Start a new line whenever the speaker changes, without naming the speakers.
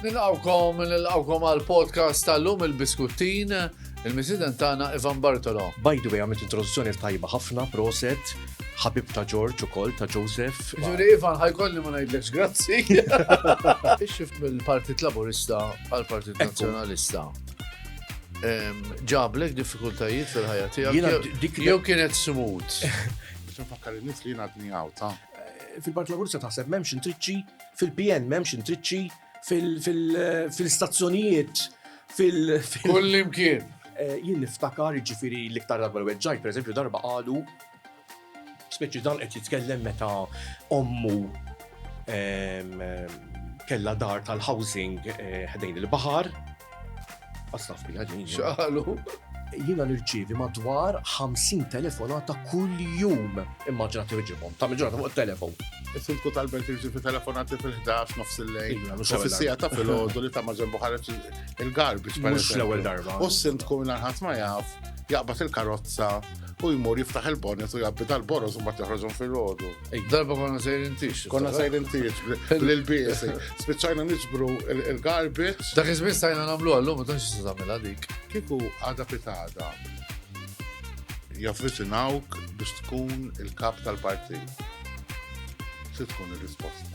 Nilqawkom, nilqawkom għal podcast tal-lum il-biskuttin, il-misiden tagħna Ivan Bartolo. By the way, għamilt introduzzjoni
tajba ħafna, proset, ħabib ta' George ukoll ta' Joseph. Ġuri Ivan, ħajkolli
ma ngħidlekx grazzi. Ix-xift mill-Partit Laburista għal Partit Nazzjonalista. Ġablek diffikultajiet fil-ħajja tiegħek. Jew kienet smut. Biex nfakkar
in-nies li jien għadni għawta. Eh, Fil-Partit Laburista
taħseb m'hemmx intriċċi, fil-PN m'hemmx intriċċi, fil-stazzjonijiet, fil. Kull
imkien. Eh, jien niftakar
ġifiri l-iktar darba l-weġġaj, per eżempju, darba għadu, speċi dan qed jitkellem meta ommu kella dar tal-housing eh, ħdejn il-bahar, Għasna fija ġin. Xaħlu.
Jina
nirċivi madwar 50 telefonata kull jum. Immaġina tirġibom, ta' mġorata fuq telefon. Is-sindku tal-belt
irċivi telefonati fil-11 nofs il-lejn. Iva, u fil-sija ta' fil-ħodu
li ta'
maġen buħaret il-garbix. Mux l-ewel darba.
U s-sindku minna ħat
ma jaf, jaqbat il-karozza u jmur jiftaħ il-bonnet u jabbi tal-boros u ma tiħroġhom fil-ħodu. Darba konna sejrin
tix. Konna sejrin tix,
l-biesi. Spiċajna nġbru il-garbage. Dak iżmin stajna
namlu għallum, u tanx se tagħmilha dik. Kiku għada
pitada javvicinawk biex tkun il-kap tal-partit. Se tkun il risposta